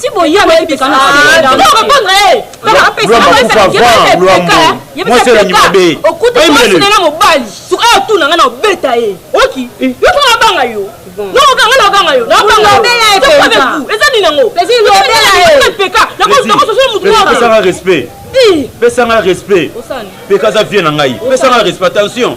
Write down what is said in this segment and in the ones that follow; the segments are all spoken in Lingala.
ti boyeba epekana répondre ye okutuasunela mobali suka yo tuna nga na obeta ye oki yo tuna abanga yo nokokanga nakanga yo eza nini yango epeka nakososola motu pesanga respect peka aza vie na ngai pesanga respect attention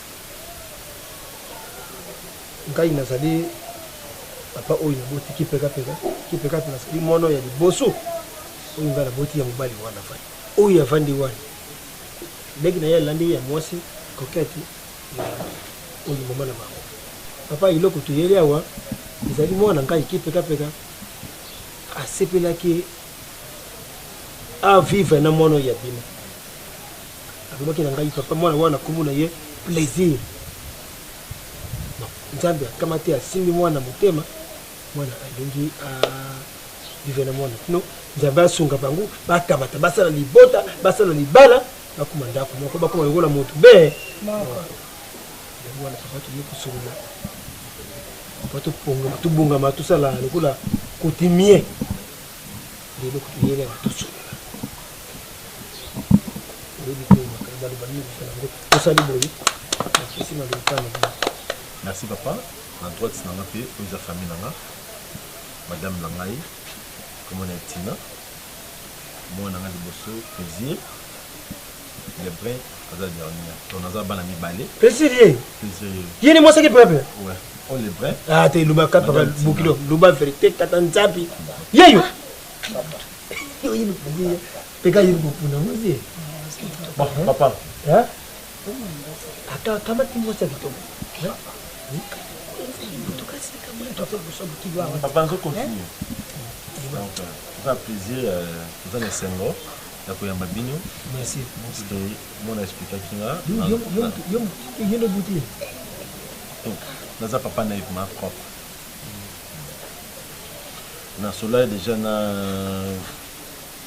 ngai nazali papa oyo naboti kipekapeka kipekapeka azali mwana ya liboso oyo ngai naboti ya mobali wana afandi oyo avandi wana leki na ye alandi ye ya mwasi kokete oyo mama na bango papa eloko toyeli awa ezali mwana ngai kipekapeka asepelaki avivre na mwana oyo abima alobaki na ngai papa mwana wana nkombo na ye plaisir nzambe akama te asimbi mwana motema mwana alingi vive na mwana no nzambe asunga bango bakamata basala libota basala libala bakoma ndako moko bakoma lokola moto be yango wana papa toye kosolola papa topongama tobongama tosala lokola coutumier lelo kotoyelaka tosolola Merci papa na droite na nga mpe oyo eza famille na nga madame na ngai kombo na ye Tina mwana na nga liboso plaisir lebrun aza dernier to naza bana mibale plaisir ye plaisir ye ye ni mwasaki pepe ouais o oh, lebrun ah te luba kapa bokilo luba verite tata nzabi yeyo peka yini kopuna ngozi papa ata kamati mwasi ya kitoko papa nzo continue eza plaisir eza na esengo ya koyamba bino merci parceke mona explikaki nga yo nobuti naza papa na ye ma propre Na sololaki dejà na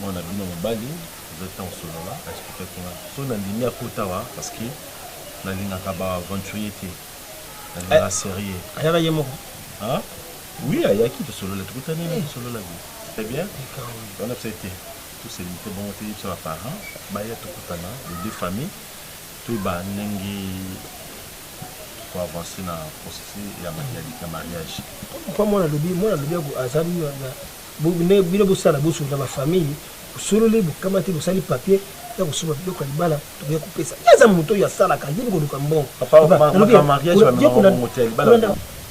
mwana na bino mobali, eza temps osolola, a expliquaki nga soki na ndimi akota awa parce que na lingaka ba aventuriers te, na lingaka eh, serieux. Ayaka ye moko? Hein? Oui, ayaki tosolola, tokutani eh. tosololaki. Très bien. On a fait été tous ces lités bon te yebisa ba parents, baya tokutana les deux familles, toyeba ndenge ko avancer na processus ya ya mariage papa mwana lobi mwana lobi azali na bino bosala boso na ba famille bosololi bokamati bosali papier ya kosomba biloko ya libala tokoya kopesa ye aza moto oyo asalaka yebi koluka mbongo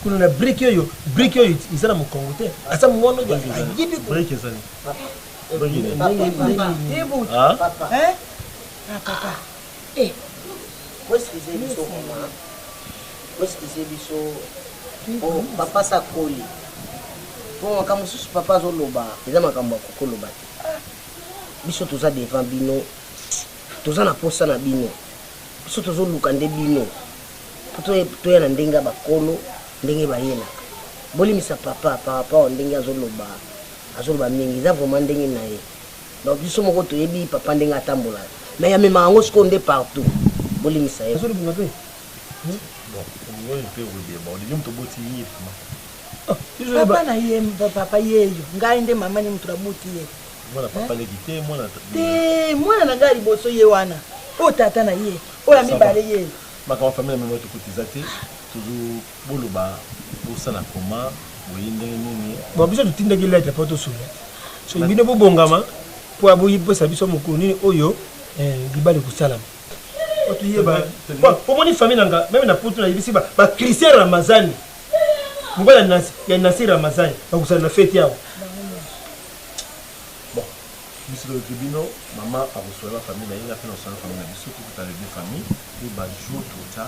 kuna na brike oyo brike oyo eza na mokongo te aza mwana oyo ayebi Papa. Hein? Ah, papa. Eh, boeskize biso vraiment boeskize biso po papa sa akoli po makambo mosusu papa azoloba eza makambo ya kokoloba te ah, biso toza devant bino toza na posa na bino biso tozoluka nde bino po toya na ndenge ya bakolo ndenge bayelaka bolimisa papa par rapport ndenge azoloba azoloba mingi eza vraiment ndenge na ye Donc biso moko toyebi papa ndenge atambolaka. Mais amemaka yango sikoyo nde partout. Bolimbisa ye. Azolibunga pe. Hmm? Bon, oyo pe okoyeba, olingi moto oboti ye vraiment. Ah, papa na ye papa yeyo ngai nde mama ni moto nabuti ye mwana papa leki te mwana te mwana na ngai liboso ye wana oyo tata na ye oyo ya mibale ye makambo famille ya mema tokotiza te tozo Boloba bosala comment boye ndenge nini. Bon biso totindaki lettre po tosunga soki bino bobongama po aboyi pesa biso mokolo nini oyo eh, libala ekosalama po toyeba omoni famille na nga meme na poto nayebisi bachristien ramazani mobali ya nasi ramazani bakosala na feti awa biso toyoki bino mama akoswala famille na ye nga mpe naswala famille na biso tokutana de famille mpe bajour tota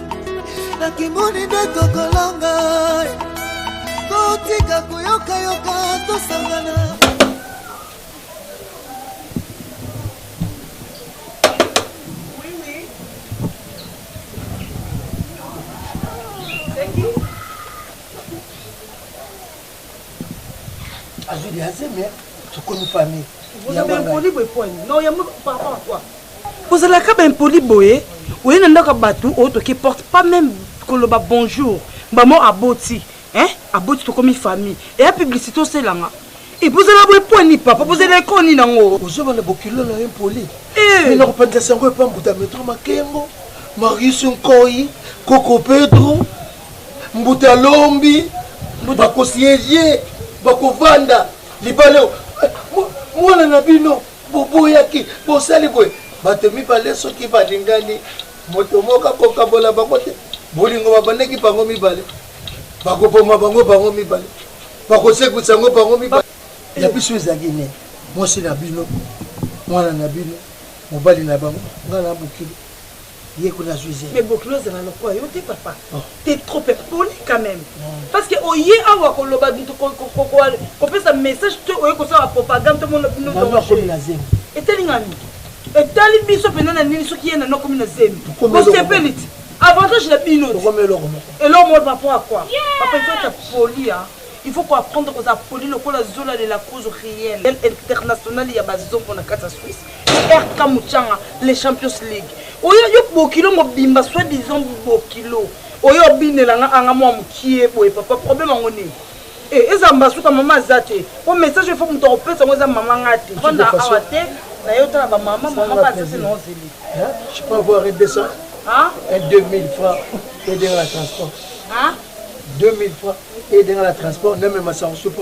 nakimoni nde tokolonga totika koyokayoka tosangana azwi liazeme tokomi famille vous avez un problème de poigne non yambo par rapport à quoi Ozalaka ba impoli boye oye na ndako ya batu o toke porte pas meme koloba bonjour maman aboti hein aboti tokomi famille eya publicite oselanga et puis ozala boye po ni papa bozela eko ni nango ozoba na bokilo na impoli eh na kopanda sango epa mbuta metro makengo Marius Nkoyi Koko Pedro mbuta lombi bakosi ye bakovanda libala mwana na bino Boboyaki, bosali boye. Bato mibale soki balingani, moto moko akokabola bango te. Bolingo babandaki bango mibale. Bakoboma bango bango mibale. Bakosekwisa yango bango mibale. Ya biso ezalaki nini? Mwasi na bino, mwana na bino, mobali na bango, ngai na mokili. yeko na zuize mais bokilo ezala lokola yo te papa oh. te trop poli quand même parce que oye awa koloba kopesa message te oye kosala propagande to mona bino akomi na zemi etali nga nini etali biso mpenza na nini soki ye nano akomi na zemi bosepeli ti avantage na bino eloko moko par rapport à quoi papa il faut être poli hein il faut koapprendre kozala poli lokola zolalela cause réelle internationale ya bazongo na kati ya swisse RK Muchanga, les Champions League. Oyo yo bokilo mobimba soit disant bokilo. Oyo obinela nga anga mwa mukie boye papa problème yango nini? Eh eza mbasuka mama aza te. Po message il faut moto akopesa ngo eza mama nga te. Fanda awa te na yo tala ba mama mama ba aza te na ozeli. Je peux avoir 200 hein? et 2000 francs et de la transport. Hein? 2000 francs et de la transport na mema sango soupe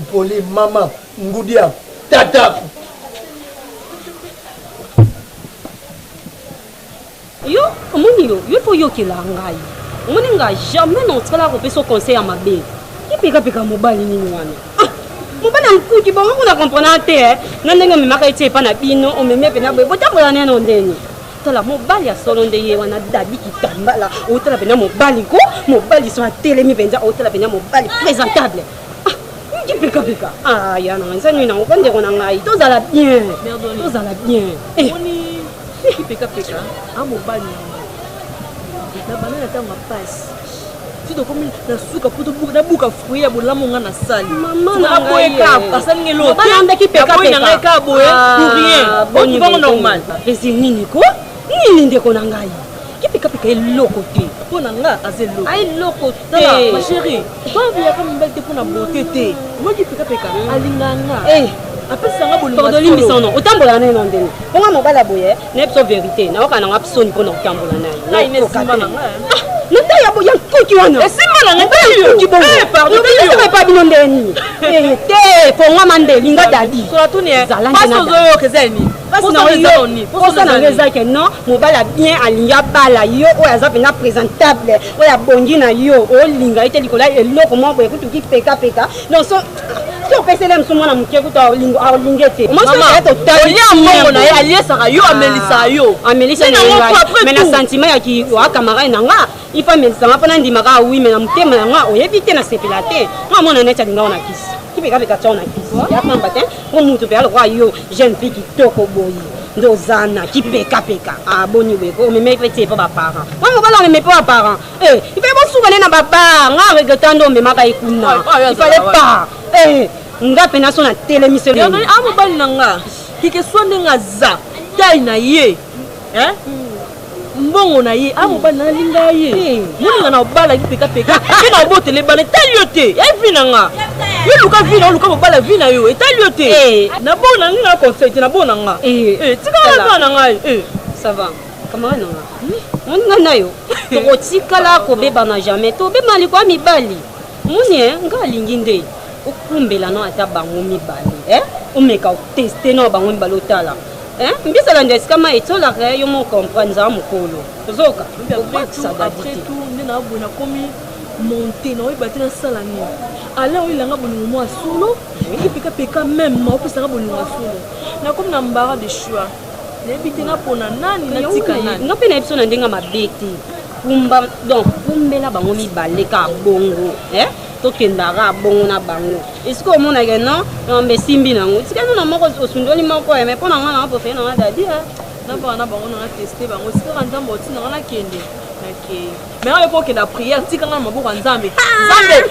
mpoli mama ngudia tata yo omoni yo yo mpo oyokela ngai omoni ngai jamais naotikala kopesa conseil ya mabe epekapeka mobali nini wana ah, mobali ya nkuki bango kuna komprena te eh. na ndenge omemaka ye ti epa na bino omemi mpe na boye botambola neno ndeni tala mobali ya solo nde ye wana dadi kitambala otala mpenza mobali ko mobali so atelemi mpenza otala mpenza mobali présentable kipikapika ah, ah, ya na ngai nsani nango ko ndeko na ngai tozala bien tozala bien eh. kipikapika amobali ah, na bana na ntango ya pasi ti tokomi na suka mpo nabuka fruit ya bolamu nga nasali naboye kaka asali nge loteandaki pekaboye na ngai kaka boye ah, pour rien okibango normal esi nini ko nini ndeko na ngai kipikapika eloko te mpo na nga aza eloko ah, eloko te ma chérie babiyaka mobali te mpo na bote te omoki pikapika alinganga eh. apesanga bolingo tolimbisa no otambola na ye na ndenge mpo nga mobali aboye nayebi so verité nayoka nanga soni mpo na kotambola naye na ntai ya nkuki wanakuki bongoepa bino ndenge nini eh, te kongama nde linga dadi oza nanga eza ke non mobali abien alingi abala yo oyo aza mpenza présentable oyo abongi na yo olinga ye te likolo ya eloko moko boye kutuki pekapeka donc soki opeseli ye mosu mwana moke kutu alinge te olia mbongo na ye aliesaka yo amelisaka yo amelisa me na sentiment ya kiwa camarade na nga ifa amelisanga mpo nandimaka wi me na motema ya nga oyebi te nasepela te nga mwana neti alingao na kisi kipekapeka tao na kisi ya pamba te mpo motu mpe alokola yo jeune fille kitoko boye nde ozana kipekapeka aboni weko omemeki mpe te mpo baparent mpo mobala omeme mpo baparent Eh, ipe bosuka ne na babar nga regreta nde omemaka ye kuna ifale par eh, nga mpena so natelemiseli a ah, mobali na nga kikeswa ndenge aza tai na ye eh? mbongo na ye a ah, mobali na alinga ye eh. moninga na obalaki pekapeka mpe na obotela ebala etali yo te evi na nga yo luka vi na oluka mobala vi na yo etali yo te nabona ngai na conseil te nabona nga tikala na ngai ça va camarade na nga moni nga na yo tokotikala kobebana jamais tobebana likolo ya mibali moni e nga alingi nde okumbela no ata bango mibale e omeka oteste no bango mibale otala mbisa landa esika ma etolaka yo mo comprendre zala mokolo ozoka obakisa dadite monte na oyeba te nasala nini ala oyelanga bolingo mwa solo epekapeka meme opesaka bolingo ya solo nakomi na mbara de choix nayebi te napona nani natika nani nga mpe nayebi so na ndenge mabe te kumba donc kumbela bango mibale ka bongo eh? tokendaka bongo na bango esika omonake non yamba esimbi na yango tika nuna moko osundoli moko ye eh, mai mpo na ngai nanga pofele nanga dadi eh. nabaka na bango nanga teste bango esikaka nzambe oti nanga nakende nakei mai oyo ekokenda priere tikanga na maboko ya nzambe ah! nzambe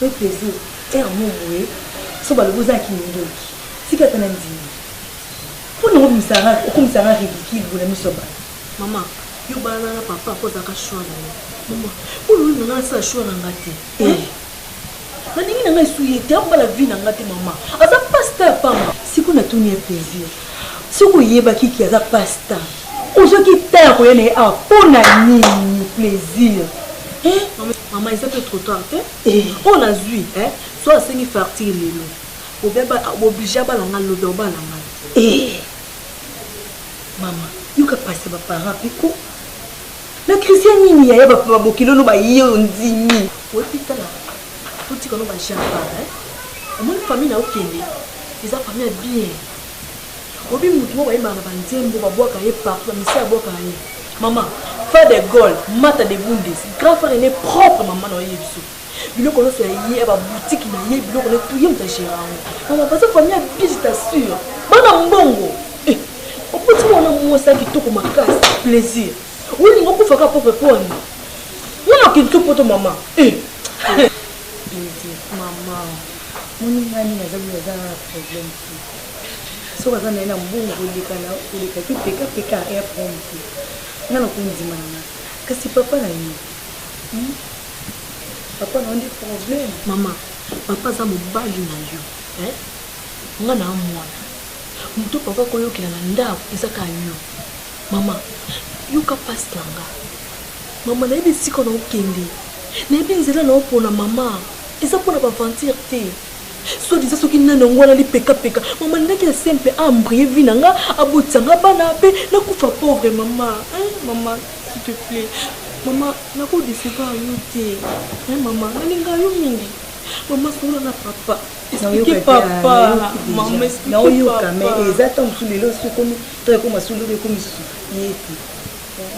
Pe pezo heure moko boye soki balobi oza kindoki tika ata nandimi po nango obimisa nga okomisa nga ridicule boye na miso ya batu. Maman yo balana na papa po azalaka choix na yo maman po olobi na nga nasala choix na nga te eh nalingi na nga esuiye te abala vie na nga te maman aza pasta ya pamba. Sikoyo natuni ye plaisir. Soki oyebaki que aza passe temps ozwaki temps ya koya na ye awa pona nini plaisir eh? Maman eza pe trop tard te eh. oyo nazwi eh? so asengi fartire lelo oblige abala ngai lobi obala ngai eh. mama yoka pasi ya baparent piko na christian nini yaya babokili ono baye ondimi oyebi tala totikano bajapa omoni famille na okende Eza famille ya bien. Obi mutu moko ayembaka na ba nzembo ba bwaka ye partout ba misia bwaka ye. Maman, frère de Gaulle, Mata de Bundes, grand frère aîné propre maman na ye biso. Biloko nionso ya ye, ba boutique na ye, biloko na tout ye mutu a gérant yango. Maman, baza famille ya bien, je t'assure. Bana mbongo. Eh, opoti mwana mwasi ya kitoko makasi, plaisir. Olinga okufa ka propre pona. Mwana kintu poto maman. Eh. Elodie maman moninga nini aza boye aza na problème te soki aza na ye na mbongo koleka na koleka ki peka peka air prom te nga na kondima na nga kasi papa na ye hmm? papa na yo nde problème mama papa aza mobali na yo eh? nga na mwana moto papa koyokela na ndako eza ka yo Mama, yoka pasi na nga. Mama, nayebi esika na okende. Nayebi nzela na opona, mama. Eza mpo na baventure te. Soit disant soki nani yango wana lipekapeka. Mama, ningaki ya sempe a embrouiller vie na nga, abotisa nga bana, pe nakufa pauvre, mama. Hein, mama, s'il te plaît. Mama, nako decevoir yo te. Hein, mama, nalinga yo mingi. Mama, solola na papa. Expliquer papa. Mama, expliquer papa. Naoyoka, mais eza tango mosusu lelo sokomi to ya koma solo be komi societe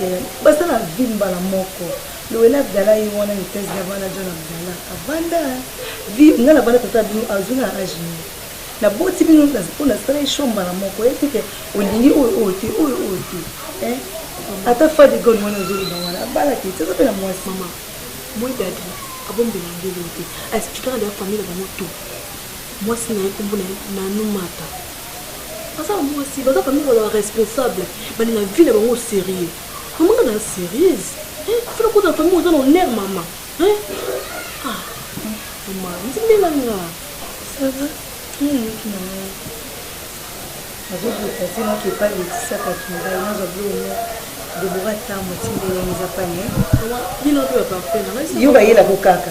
eh, basala vie mbala moko lowela abdala ye wana mitese na bana john abdala avanda vie nga na bana tata bino azwi na age nini naboti bino mpo nasala esho mbala moko ye teke olingi oyo oyo te oyo oyo te eh, ata fa de gone wana ozoloba wana abala te teza mpe na mwasi mama moi dadi abombela ndelo te aexplikaka deya famille na bango to mwasi na ye nkombo na ye nanumata aza mwasi baza kami koloba responsable bali na vie na bango sérieux mama nga na sérieuse fona kota na famille oza na honneur mama ah, mama ndimela nga nazobutase naki epai letisakaki ngai nazwa biloko debora ntango atindeli yango eza pane yo bayelako kaka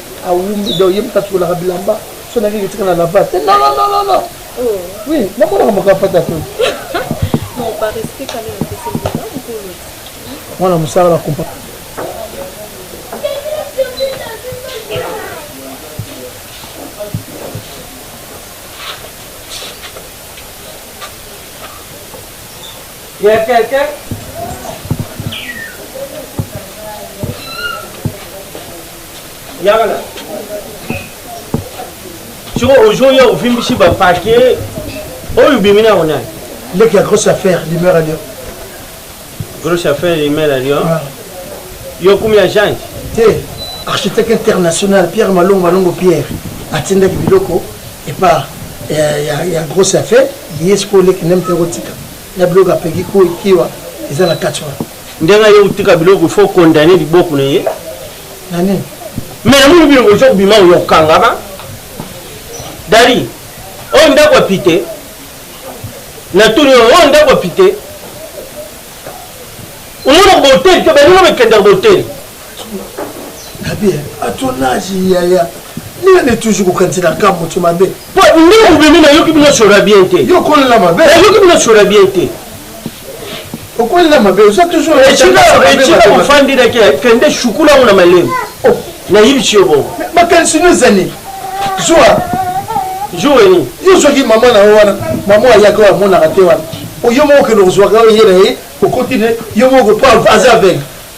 awumbi donc ye moto atukolaka bilamba so nake kotika na lava te non non non non oh. oui namonaka moko apata to mwana mosala na kompa Il y a quelqu'un yaka na soko ozongi ya ovimbisi bapake oyo obimi na yango nani leki ya grosse affaire limeur alio grosse affaire limeur alio ah. yo kumi ya jange te architecte international pierre malongo malongo pierre atindaki biloko epa eh, ya, ya grosse affaire ye sikoyo leki nde mpe ekotika na biloko apeki kiwa eza na kati wana Ndenge aye kotika biloko il faut condamner liboko na ye na nini mais namoni bino bozo kobima oyo okangama dali oyo ndako ya pite natuni oyo oyo ndako ya pite omona boteli te baninga bakendaka boteli Gabi, à ton âge, yaya, nina ne toujours kokanisi na kambo to mabe. Po ndenge obimi na yoki bino sora bien te. Yo kolela mabe. Na yoki bino sora bien te. Okolela mabe, oza toujours na chika na chika ofandi na ke kende shukula ngo na malemu. Oh. Na yibi chiyo bo. Makanisi no zani. Zua. Zua ni. Yo zoki mama na wana, mama ayaka wa mona kate wana. Oyo moko ke no zua ka yena ye, okoti ne, yo moko pa aza aveugle.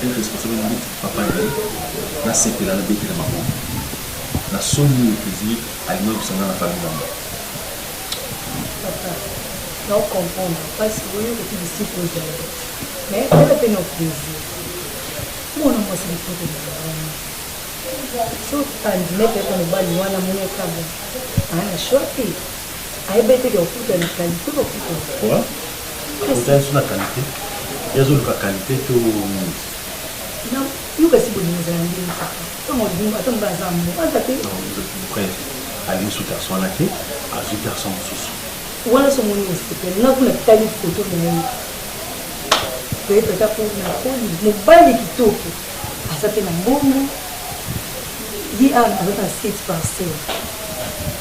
Quel responsable na beti papa na ye na sepela na betela maboko na soni oyo president alinga kusanga na famille na bango papa na o comprendre parce que oyo ko kidi si ko zala mais ko la peine au plaisir pour na moi c'est tout de moi so tandine pe ko mobali wana mona kabo ana choix ayebeteke okuta na kalite bakuta akuta nso na kalite ye azoluka kalite to nini yo kasi bolingo ezala ndenge ntango olingo ata mobe aza mo aza te bref alingi su garçon wana te azwi garçon mosusu wana so omoni osepele nga kuna tali foto na ye peut-être ata mpo na koli mobali kitoko Aza pe na mbongo ye awa aza pe na site parcelle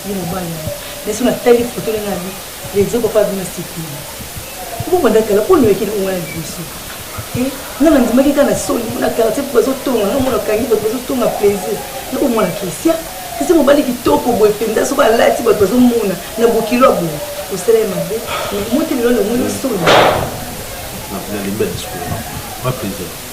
ye mobali na ye mais soki natali foto ndenge abi rezo papa abi na site na ye mpo banda kala mpo noyekeli bongo na liboso te nga nandimaki kaka na soni mpo na quartier mpo bazotonga nga mona kangi bato bazotonga plaisir na komona christian kasi mobali kitoko boye mpenza soki alati bato bazomona na bokilo ya boye osala ye mabe mais moteli lolongo yo soni na limbe discours na plaisir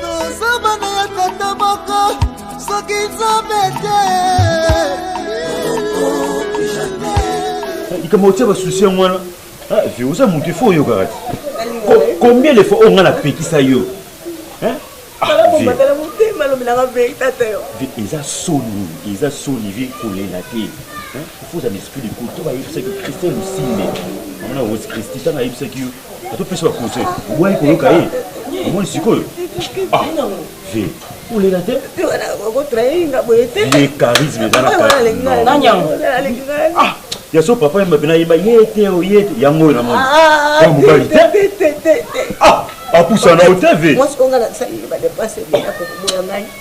Toza bana ya tata moko soki nzambe te likambo otia basusi yango wana ah, vi oza moto ifo oyokaka te combien de fois oyo ngai napekisa yo eza soni eza soni vi kolela te ifo oza na esprit de koto bayebisaki christian lusimbe amona rose christi ntango ayebisaki yo atopesa ba conseil oboyaki koyoka ye omoni sikoyo ah, ve olela te ye charisme eza na ya so papa yemba mpe nayeba ye te o ye te yango oyo namoni ya mobali te apusana o te ve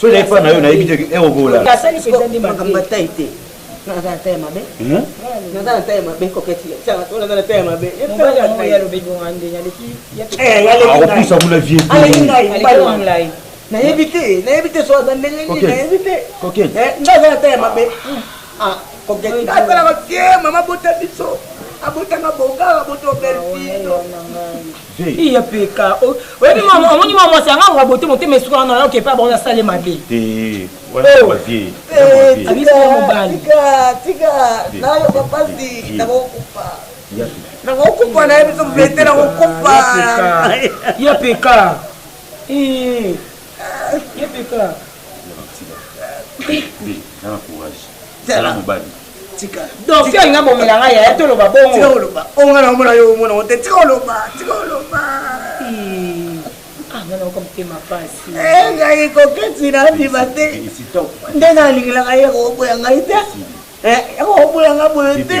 soki na epai na yo nayebi te ekokola makambo ya tai te naza na tai ya mabe naza na tai ya mabe koketi naza na tai ya mabe akopusa kuna vie nayebi te nayebi te soki aza ndenge nini nayebi te nga aza na tai ya mabe koketi nga asalaka tie mama bota biso abotanga bonga abota obelpito iya peka oyebi omoni mwa mwasi yanga akoka bote motema esuka wana oke epai bango nasale mabe nakokufa na ye biso vete nakokufa ya peka ya peka tika donc yo nga bomela nga yaya toloba bongo tika oloba onga na omona yo omona ote tika oloba tika oloba nga nayoka motema mpasi ngai koketi na ndima te nde nalingelaka ye koboya ngai te ekoboya ngai boye te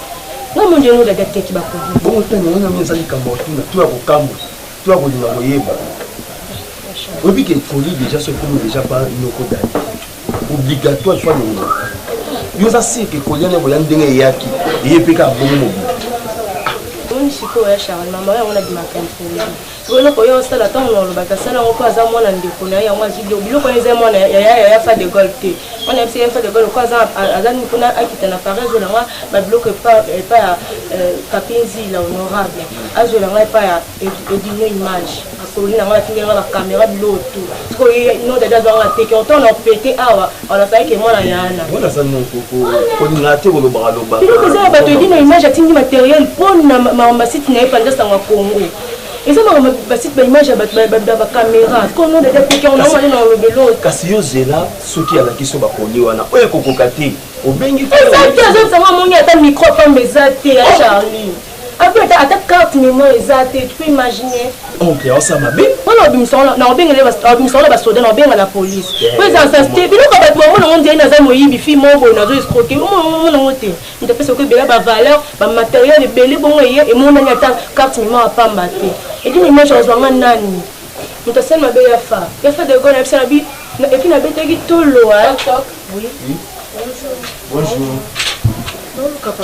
Nga mondi yango dada teki ba kodi. Bongo tena wana mimi ezali kambo otuna to ya kokambo to ya kolinga koyeba. Oyebi ke koli deja so ekomi deja ba noko dada. Obligatoire soit le noko. Yo oza sire ke koli yango ya ndenge eyaki eye pe kaka bongo mobili. Omoni sikoyo ya Charles mama yango na bimaka impoli. Sikoyo eloko oye osala ntango na olobaki asala yango mpo aza mwana ndeko na ye yango azwi biloko biloko wana eza mwana ya yaya fa de gol te wana yebisi yaya fa de gol mpo aza nini mpona akita na paris azwela nga babiloko epa ya euh, kapinzi la honorable azwela nga epa ya edino image akoli na nga batindela nga bakamera biloko tout sikoyo ye no dada azwa nga teke otango na opete awa On a failli que moi na yana. Moi na sa non koko. Kolinga te kolobaka lobaka. Yo koza ba to dino image atindi matériel pon na ma site na epanda sangwa Congo. Eza ma ba site ba image ba ba ba camera. Ko no de te on a na lobelo. Kasi yo zela soki ala kiso ba koni wana. Oye kokoka te. Obengi ko. Eza te azo sangwa moni ata micro pamba eza te ya Charlie. Abi ata ata carte memoire eza te, tu peux imaginer. Oncle ya osa mabe. Wana obimisa wana na obengele obimisa wana ba soda na obenga la police. Po eza sa ste bino ko batu mona ngo ndiye naza moyibi fi mobo na zo escroquer. Omo mona ngo te. Nda pesa ko bela ba valeur, ba matériel ebele bongo eye e mona ni ata carte memoire pamba te. Et puis image azwa nga nani. Muta sel mabe ya fa. Ya fa de gona pesa na bi et puis na betaki tolo hein. Oui. Bonjour. Bonjour. Bonjour papa.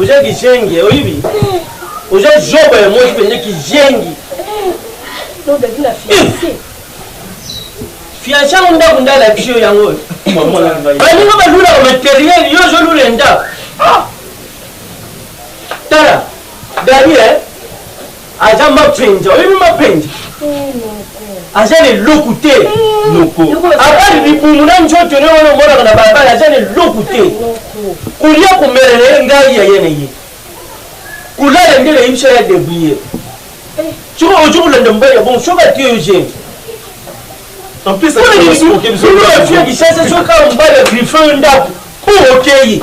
oza kizengi oyibi oza zoba ya mwasi mpenza kizengi fianse yango ndako nde alakisi yo yango baninga balulaka materiel yo ozolula ndako ah! tala dani e eh? aja mapenja oyebi mapenja aja na eloku te abali libumu na nzoto ne wana omonaka na balabala aja na eloku te kolia komela na ye ngai yaya na ye kolala nde nayebisa ya debrie soki ozo kolanda mobali ya bongo soki atiye yo gene ofiakisasa soki kaka mobali ya griffe yo ndako mpo okeyi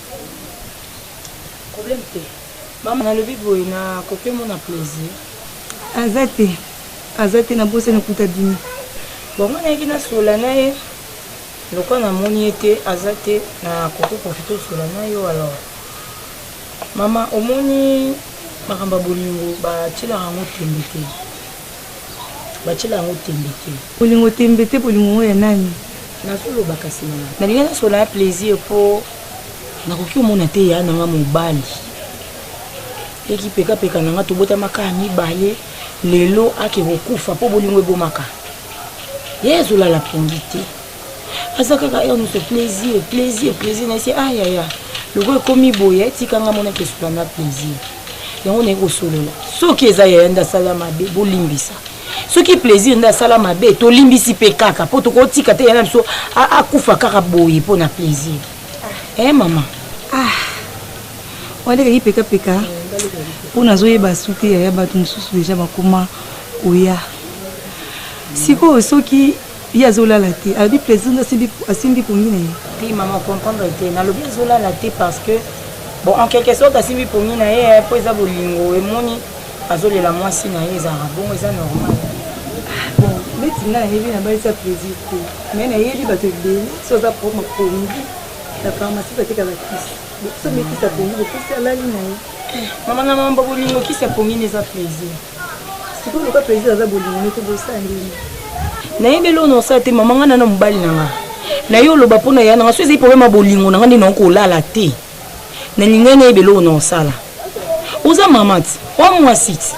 Problème te. Maman nalobi boye na ko pe mona plaisir. Aza te aza te nabosani kutu abimi. Bon nga nayaki na sola na ye lokwa na moni ye te aza te na koko profite osola na yo alors. Maman omoni makambo ya bolingo ba tielaka yango tembe te. Batiela yango tembe te. Bolingo tembe te bolingo yango ya nani? Nazo loba kasi na. Nalingi nasolola na plaisir po nakoki komona te ya nanga mobali. Eki peka peka nanga tobotama kaka mibale lelo ake kokufa po bolingo ebomaka. Ye azolala pongi te. aza kaka heure nyonso plaisir plaisir plaisir na esi ayaya lokola ekomi boye tika nga mona kesola na plaisir yango naye kosolola soki eza yaya nde asala mabe bolimbisa soki plaisir nde asala mabe tolimbisi mpe kaka mpo tokotika te yana biso akufa kaka boye mpo na plaisir e eh, mama ah. walekaki pekapeka mpo nazoyeba su te yaya bato mosusu deja bakoma koya sikoyo soki Ye azo lala te alobi plaisir nde asimbi pongi na ye. Te maman o comprendre te nalobi azo lala te parce que bon en quelque sorte asimbi pongi na ye po eza bolingo emoni azo lela mwasi na ye ezalaka bongo eza normal. Bon neti nga nayebi na bali sa plaisir te mais nayebi bato ebele so aza propre ma pongi na pharmacie bateka ba kisi so mekisa pongi bokisi alali na ye. Maman na maman bolingo kisi ya pongi nde eza plaisir. sikoyo loka president aza bolingo mete bosala ndenge nayebi eloo na osala te mama ngai na na mobali na ngai na yo oloba mpo na ya na ngai so ezali probleme ya bolingo na ngai nde naoki kolala te nalingai nayebi eloo na osala oza mama ti oa mwasi ti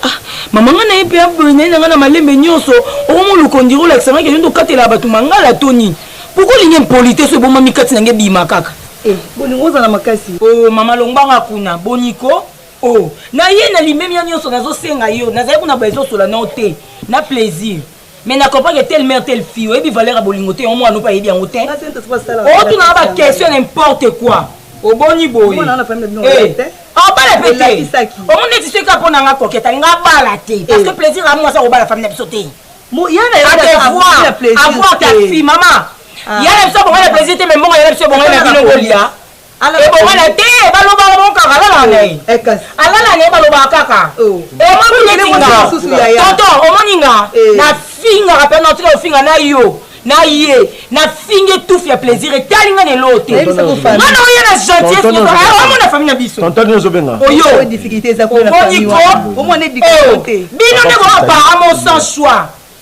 ah, mama ngai naye mpe aboyi naye na ngai na malembe nyonso okomolukondiri olakisa ngai keyondo okatela bato mangala to nini poko olingi mpoli te so ebomami kati na ngai ebima kaka eh, bolingo ozala makasi o oh, mama longbanga kuna boniko Oh na ye na limemia nyonso nazo senga yo nazali kuna ba ezo sola nao te na plaisir mais na comprendre que telle mère telle fille oyebi valeur ya bolingo te yango mwana ope ayebi yango te otuna na ba question n'importe quoi oboni boye obala pe te omoni neti soki kaka mpo na nga koketa nga abala te parce que plaisir amour aza kobala fami na biso te avoir ta fille mama yana biso bongo na plaisir te mais mbongo yana biso bongo na bino bolia ebongana te balobaka bango kaka alalaka na ye eh, alala na ye balobaka kaka oh. omoni neti nga toto omoni nga eh. nafingaka mpe natika ofinga na yo na ye nafingi etufi ya plaisir etali nga lelo te ngana oye na gentillesomona fami na biso oyo omoniko bino nde boapara mon sans choix